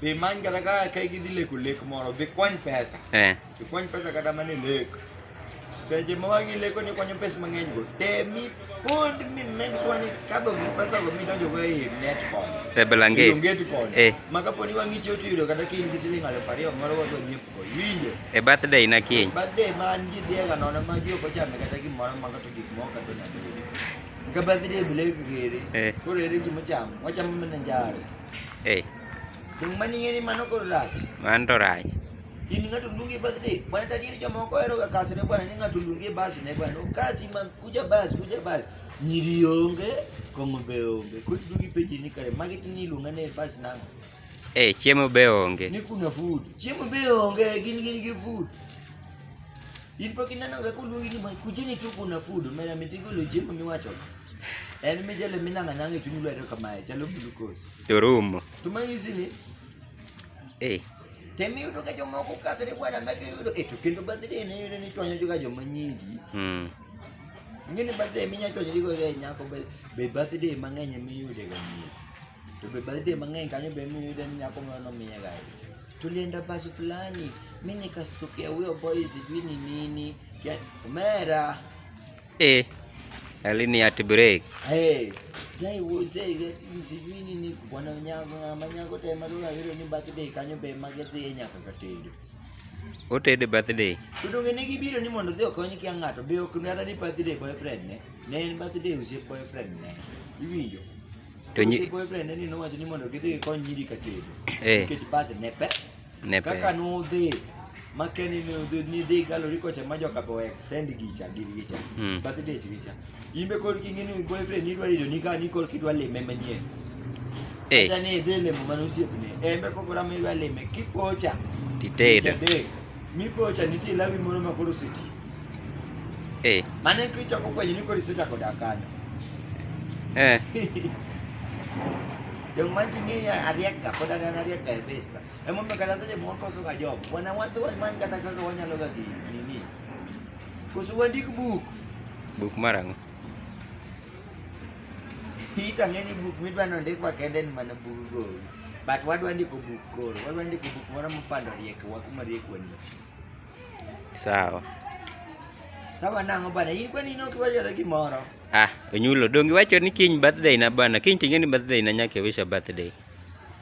Be man kata ka ka gidhi leko lek moro, be kwany pesa. Eh. Be kwany pesa kata mane lek. Seche ma wagi leko ni kwanyo pesa mang'eny go. Temi pond mi make sure ni kadho gi pesa go midonjo go e net con. E belange. Onget con. Eh. Ma kapo ni wang'i chiwo tiyudo kata ka in gi siling aluf ariyo moro wadwa nyiepo go. Winjo. E birthday na kiny. Birthday ma an ji dhiega nono ma ji ok ochame kata gimoro ma kata gik moko kata na. Ka birthday bile kigere. Eh. Koro ere gimochamo. Wachamo mana njaro. Hey. Dung mani ngeni mano kod rach. Man to rach. In ng'ato ndungi bath dek. Bwana tajiri jomoko ohero ga kasne bwana ni ng'ato ndungi bas ne bwana. Kasi man kuja bas kuja bas. Nyiri onge, kong'o be onge. Kod ndungi peji ni kare magi tini iluonga ne bas nang'o. Eh, chiemo be onge. Ni kuna food. Chiemo be onge, gin gin gi food. In pok ineno ga kuluongi ni kujeni tu kuna food. Mera mitigolo chiemo miwacho. En mi jale mi nanga nanga chunyu lwa ero kamae, chalo glucose. Turumo. Tuma hizi ni? Eh. Temi yudo ka joma oko kasre bwana meke yudo e to kendo birthday ne yudo ni chwanyo juga joma nyingi. Mm. Ngene birthday minya chwanyo digo ga nyako be be birthday mang'eny mi yude ga nyingi. To be birthday mang'eny kanyo be mi yude ni nyako mano miya ga. Tulienda basi fulani, mimi nikastukia huyo boy sijui ni nini. Kia- Omera, Eh, alini at break. Eh. Jai wo se ge si ni ni ni kwa na nya ga ma nya ko te ma ru ga ru ni ba te de ka nyo be ma ge de nya ka ka te de. O te de ba te de. Tu do ge ne gi biro ni mondo de ko ni ki ngato be o ku na ni ba te de boyfriend ne. Ne en ba te de u se boyfriend ne. I wi yo. To ni boyfriend ne ni no wa ni mondo ge de ko ni di ka te de. Eh. Ke ti ba se ne pe. ne pe kaka nudhi makeni nidhi galori kocha ma joka bo extend gicha gir gicha mm. birthday gicha imbe kor kingi ni boyfriend idwa rido ni ka ni kor kidwa leme manyien eh acha ni idhi lemo mano siepne embe kok ora mi idwa leme kipocha titedo mi pocha nitie lawi moro ma koro seti eh mane kichako fwenyo ni koro isechako dakana eh Yung man sini ya ariak ka, pada dan ariak ka, bes. Hebu mkatazaje mwaka uso ka job. Bwana watu wa man kata kaka wanya loga ki nini? Kusu wandik book. Book marang. Hita ngeni book midwa nonde kwa kende ni mana book go. But wadu andi ko book ko. Wadu andi ko book mwana mpando rieke wakuma rieke wani. Sawa. Sawa nango bana. Hii kwa nini ukiwaja laki moro? Ah, onyulo dongi wacho ni kiny birthday na bana. Kiny tingeni birthday na nyake wisha birthday.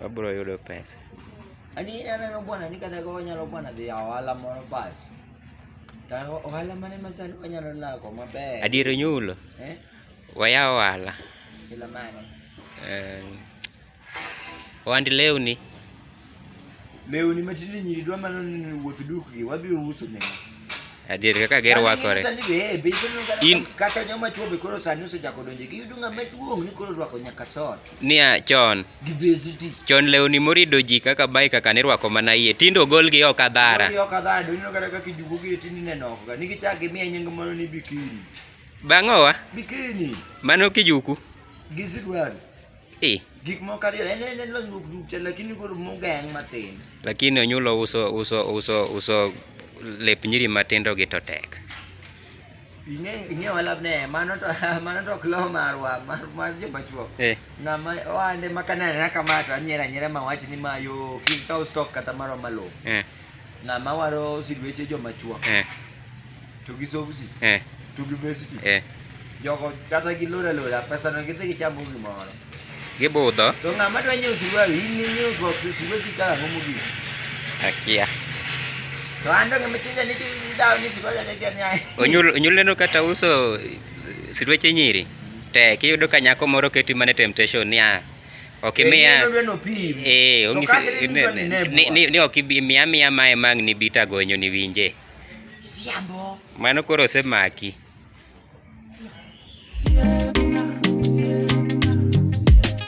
Wabro yudo pesa. Ani aneno bwana ni kata go nyalo bwana dhi awala moro bas. Ta ohala mane masani wanyalo lako maber. Adiero nyulo. Eh? Waya ohala. Kila mane. Eh. Wandi lewni. Lewni matinde nyiri dwa mana ni wuoth dukgi wabiro uso negi. Adier kaka ger wakore. Sani be eh, be isono In- kata- kata joma chwo be koro sani osechako donjo gi yudo ng'ama duong' ni koro rwako nyaka sot Niya, chon, gi vesiti. chon lewni morido ji kaka bai kaka nirwako mana iye. Tinde ogolgi oko adhara. Yo kadhaa donjo kata kaka ijugo gire tindi nenoko ga nigi chak gi miye nying moro ni bikini. Bang'owa, Bikini mano kijuku. Gi sidwari. Eh. Gik moko ariyo en en lony wuok duk cha lakini koro mugeng matin. Lakini onyulo uso uso uso uso lep nyiri matindo gi to tek. Ing'e ing'e wala ne mano to mano to klo marwa mar mar je machuo. Eh. Na ma wande makana na kamata nyera nyera ma wach ni mayo kin ka stock kata maro malo. Eh. Ng'ama waro silweche joma chwo. Eh. To gi soksi. Eh. To gi vesti. Eh. Jogo kata gi lora lora pesa no gidhi gichamo gimoro. Gibudho. To ng'ama dwa nyiewo silweche in nyiewo soksi silweche kala homo gi. Akia. To an to ng'ama chinja ni dawo ni silweche ne gani ai. Onyul onyul neno kata uso silweche nyiri. Tek iyudo ka nyako moro keti mana temptation niya. okimiya eh, ni okimiya miya mae mang' ni bita gonyo ni winje mano koro osemaki